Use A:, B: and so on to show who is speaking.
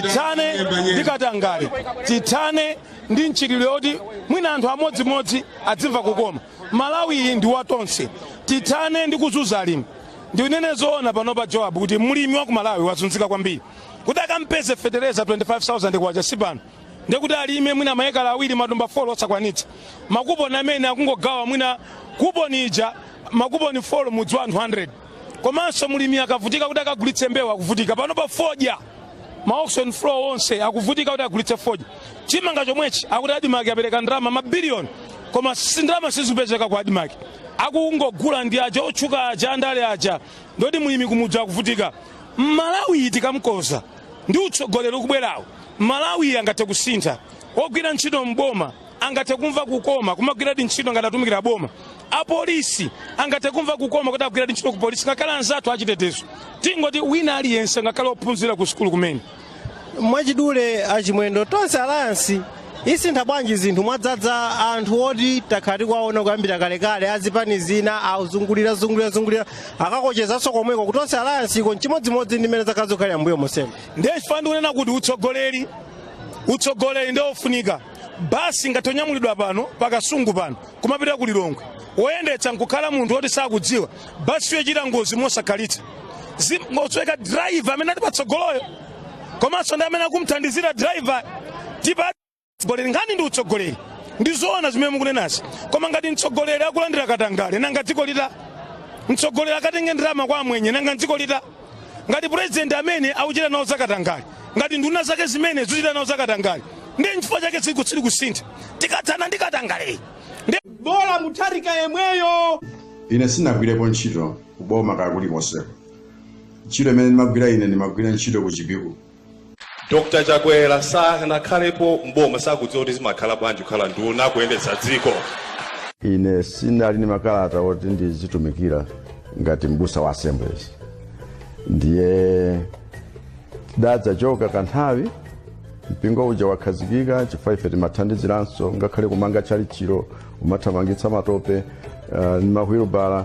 A: tithane ndi katangale tithane ndi mchitidwe woti mwina anthu amodzimodzi adzimva kukoma malawi iyi ndi watonse tithane ndi kuzunza alimi ndinene zoona pano pa joab kuti mlimi wa ku malawi wazunzika kwambiri kuti akampeze fetereza 25000 kwacha si pano ndekuti alime mwina maekala awiri matumba 4 osakwanitsa makuponi amene akungogawa mwina kuponi ija makuponi 4 mudzi wa anthu 100 komanso mlimi akuvutika kuti akagulitse mbewu akuvutika pano pa fodya ma auction floor onse akuvutika kuti agulitse fodya chimanga chomwechi akuti adimaki apereka ndalama mabiliyoni koma ndalama sizipezeka ku adimaki akungogula ndi aja otchuka aja andale aja ndiye kuti mlimi kumudzi akuvutika malawi iyi tikamkonza ndi utsogoleri ukubwerawo malawi iyi angathe kusintha ogwira ntchito mboma angathe kumva kukoma kumagwiradi ntchito ngati akutumikira boma apolisi angathe kumva kukoma kuti akugwiradi ntchito ku polisi ngakhale anzathu achitetezo tingoti wina aliyense ngakhale ophunzira ku sukulu kumene mwachidule
B: achimwendo tonse alliance isintha bwanji zinthu mwadzadza anthu oti takhala tikuwaona kuyambira kalekale azipani zina azungulira zungulira zungulira akakochezanso komweko kuti tonse alliance iko nchimodzimodzi ndi mmene zakhala zikukhalira mbuyo monsemu ndiye chifukwa ndikunena
A: kuti utsogoleri utsogoleri ndi ofunika basi ngati tanyamulidwa pano pakasungu pano kumapita ku lilongwe woyendetsa nkukhala munthu woti sakudziwa basi iyo ichita ngozi mosakhalitsa ingosweka driver amene ali patsogoloyo komanso ndi amene akumthandizira driver tipa tsogoleri nkhani ndi utsogoleri ndi zoona zimene mukunenazi koma ngati mtsogoleri akulandira katangale nanga dziko lita mtsogoleri akatenge ndalama kwa amwenye nanga dziko lita ngati purezidenti amene akuchita nawo zakatangale ngati nduna zake zimene zikuchita nawo zakatangale ndiye nchifukwa chake dziko silikusintha tikathana ndi katangale eee
B: bola mutharika yemweyo ine
C: sindinagwirepo ntchito kuboma kaya kulikonseko ntchito imene ndimagwira ine ndimagwira ntchito ku chipiku
D: Dr Chakwera sanakhalepo mboma sakudziwa kuti zimakhala bwanji kukhala nduna kuyendetsa dziko. Ine
C: sindinali ndi makalata oti ndizitumikira ngati mbusa wa Assemblies, ndiye tidadzachoka kanthawi mpingo uja wakhazikika chifukwa ife timathandiziranso ngakhale kumanga tchalitchilo kumathamangitsa matope uh, ndi mawilibala